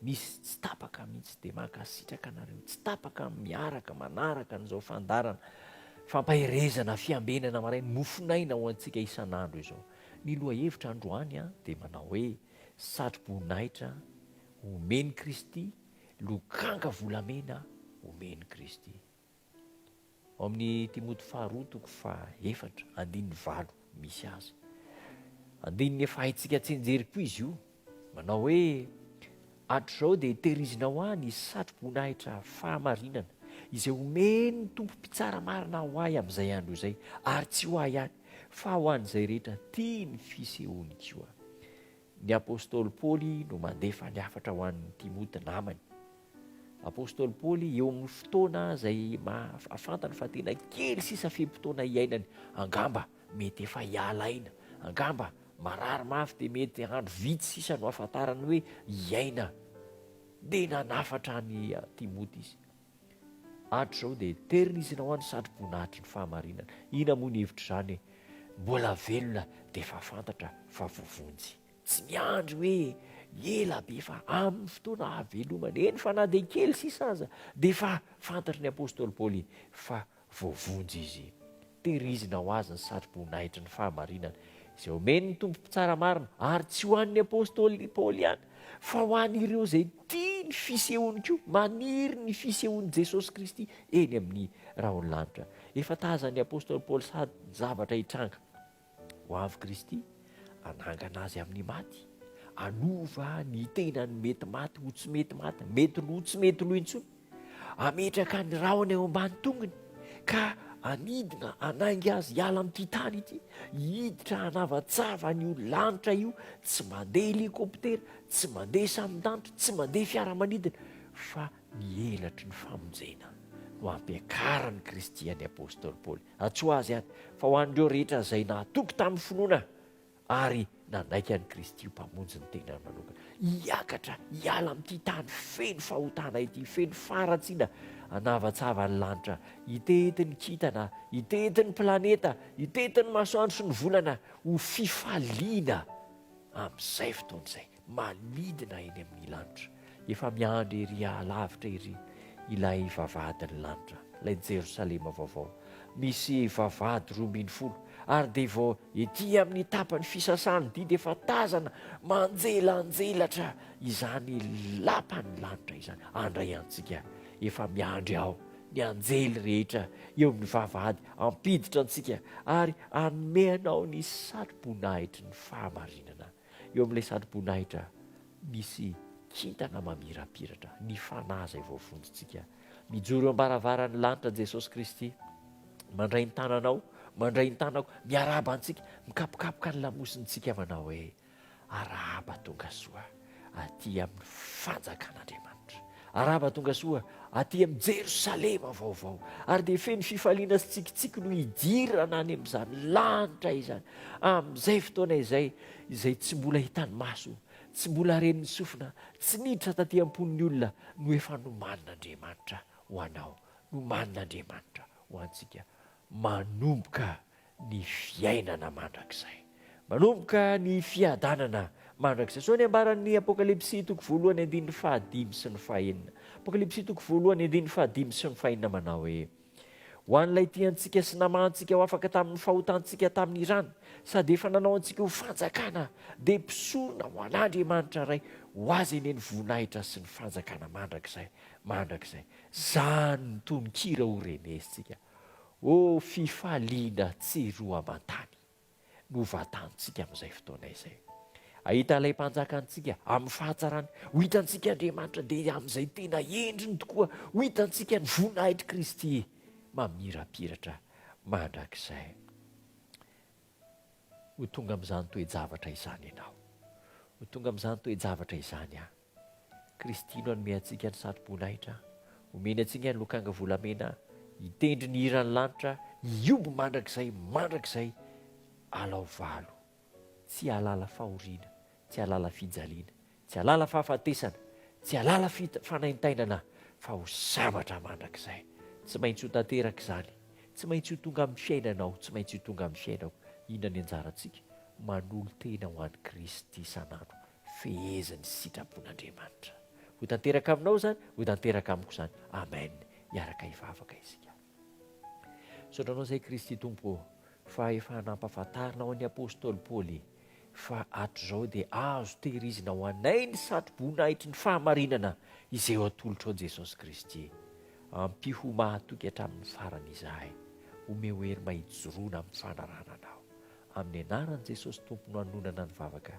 Misy tsy tapaka mihitsy dia mankasitraka anareo tsy tapaka miaraka manaraka an'izao fandarana fampaherezana fiambenana marainy mofonaina ho antsika isan'andro izao. Ny lohahevitra androany an dia manao hoe satroboninahitra omen'i Kristy, lokanka volamena omen'i Kristy. Ao amin'ny Timoty faharoa toko fahaefatra andininy valo misy azy. Andininy efa haintsika tsinjery koa izy io. Manao hoe, Hatrizao dia tehirizinao ahy ny satroboninahitra fahamarinana izay omen'ny Tompo Mpitsara marina ho ahy amin'izay andro izay, ary tsy ho ahy ihany, fa ho an'izay rehetra tia ny fisehoany koa. Ny apostoly Paoly no mandefa ny hafatra ho an'i Timoty namany. Apostoly Paoly eo amin'ny fotoana izay fantany fa tena kely sisa fe-potoana hiainany, angamba mety efa hiala aina, angamba marary mafy dia mety andro vitsy sisa no ahafantarany hoe hiaina, dia nanafatra an'i Timoty izy. Andro zao dia terina izy nao any sandri-boninahitry ny fahamarinana. Ina moa ny hevitr'izany e! Mbola velona dia efa fantatra fa voavonjy. Tsy miandry hoe ela be fa amin'ny fotoana hahavelomany, eny fa na dia kely sisa aza, dia efa fantatry ny apostoly Paoly fa Voavonjy izy. Tehirizina ho azy ny satroboninahitry ny fahamarinana izay omen'ny Tompo mpitsara marina, ary tsy ho an'ny apostoly Paoly ihany, fa ho an'ireo izay tia ny fisehony koa, maniry ny fisehon'i Jesosy Kristy eny amin'ny rahon'ny lanitra. Efa tazan'ny apostoly Paoly sady ny zavatra hitranga. ho avy Kristy, hanangana azy amin'ny maty, hanova ny tenany mety maty ho tsy mety maty, mety lo tsy mety lo intsony, hametraka ny rahona eo ambany tongony ka hanidina hanainga azy hiala amin'ity tany ity, hiditra hanavatsava an'io lanitra io, tsy mandeha hélicoptère, tsy mandeha sambon-danitra, tsy mandeha fiaramanidina fa ny elatry ny famonjena no ampiakaran'i Kristy an'i Apostoly Paoly. Antsoa azy any fa ho an'ireo rehetra izay nahatoky tamin'ny finoana ary nanaiky an'i Kristy ho Mpamonjy ny tenany manokana, hiakatra hiala amin'ity tany feno fahotana ity, feno faharatsiana, hanavatsava ny lanitra, hitety ny kintana, hitety ny planeta, hitety ny masoandro sy ny volana ho fifaliana amin'izay fotoana izay. manidina eny amin'ny lanitra, efa miandry ery alavitra ery ilay vavahadin'ny lanitra, ilay Jerosalema vaovao, misy vavahady roa ambin'ny folo, ary dia vao ety amin'ny tapan'ny fisasan'ny didy efa tazana manjelanjelatra izany lapan'ny lanitra izany, handray antsika, efa miandry ao ny anjely rehetra eo amin'ny vavahady hampiditra antsika ary hanome anao ny satroboninahitry ny fahamarinana. Eo amin'ilay satroboninahitra misy kintana mamirapiratra, ny Fanahy izay voavonjintsika. Mijoro eo am-baravaran'ny lanitra Jesosy Kristy, mandray ny tananao, mandray ny tanako, miarahaba antsika, mikapokapoka ny lamosintsika manao hoe arahaba tonga soa aty amin'ny fanjakan'Andriamanitra. Arahaba tongasoa aty amin'i Jerosalema vaovao. Ary dia feno fifaliana sy tsikitsiky no hidirana any amin'izany lanitra izany, amin'izay fotoana izay, izay tsy mbola hitan'ny maso, tsy mbola ren'ny sofina, tsy niditra taty am-pon'ny olona, no efa nomanin'Andriamanitra ho anao, nomanin'Andriamanitra ho antsika, manomboka ny fiainana mandrakizay. Manomboka ny fiadanana mandrakizay. Izao ny ambaran'ny Apokalypsy toko voalohany andininy fahadimy sy ny fahenina. Apokalypsy toko voalohany andininy fahadimy sy ny fahenina manao hoe, Ho an'ilay tia antsika sy namaha antsika ho afaka tamin'ny fahotantsika tamin'ny rany, sady efa nanao antsika ho fanjakana, dia mpisorona ho an'Andriamanitra Ray, ho Azy anie ny voninahitra sy ny fanjakana mandrakizay mandrakizay. Izany ny tononkira horenesintsika. Ô fifaliana tsy roa aman-tany no vatantsika amin'izay fotoana izay. Hahita ilay Mpanjaka antsika amin'ny fahatsarany. Ho hitantsika Andriamanitra dia amin'izay tena endriny tokoa. Ho hitantsika ny voninahitr'i Kristy mamirapiratra mandrakizay. Ho tonga amin'izany toe-javatra izany ianao. Ho tonga amin'izany toe-javatra izany aho. Kristy no hanome antsika ny satroboninahitra, omeny antsika ny lokanga volamena, hitendry ny hiran'ny lanitra, hihombo mandrakizay, mandrakizay, alao valo. Tsy hahalala fahoriana, tsy hahalala fijaliana, tsy hahalala fahafatesana, tsy hahalala fanaintainana, fa ho sabatra mandrakizay. Tsy maintsy ho tanteraka izany, tsy maintsy ho tonga amin'ny fiainanao, tsy maintsy ho tonga amin'ny fiainako. Inona ny anjarantsika? Manolo-tena ho an'i Kristy isan'andro, fehezan'ny sitrapon'Andriamanitra ho tanteraka aminao izany, ho tanteraka amiko izany. Amen. Hiaraka hivavaka isika. Misaotra anao izay Kristy Tompo ô, fa efa nampahafantarinao an'i Apôstôly Paoly fa hatrizao dia azo tehirizina ho anay ny satroboninahitry ny fahamarinana izay ho atolotrao Jesosy Kristy. Ampiho mahatoky hatramin'ny farany izahay. Omeo hery mba hijoroana amin'ny fanarahana anao. Amin'ny anaran'i Jesosy Tompo no anonana ny vavaka.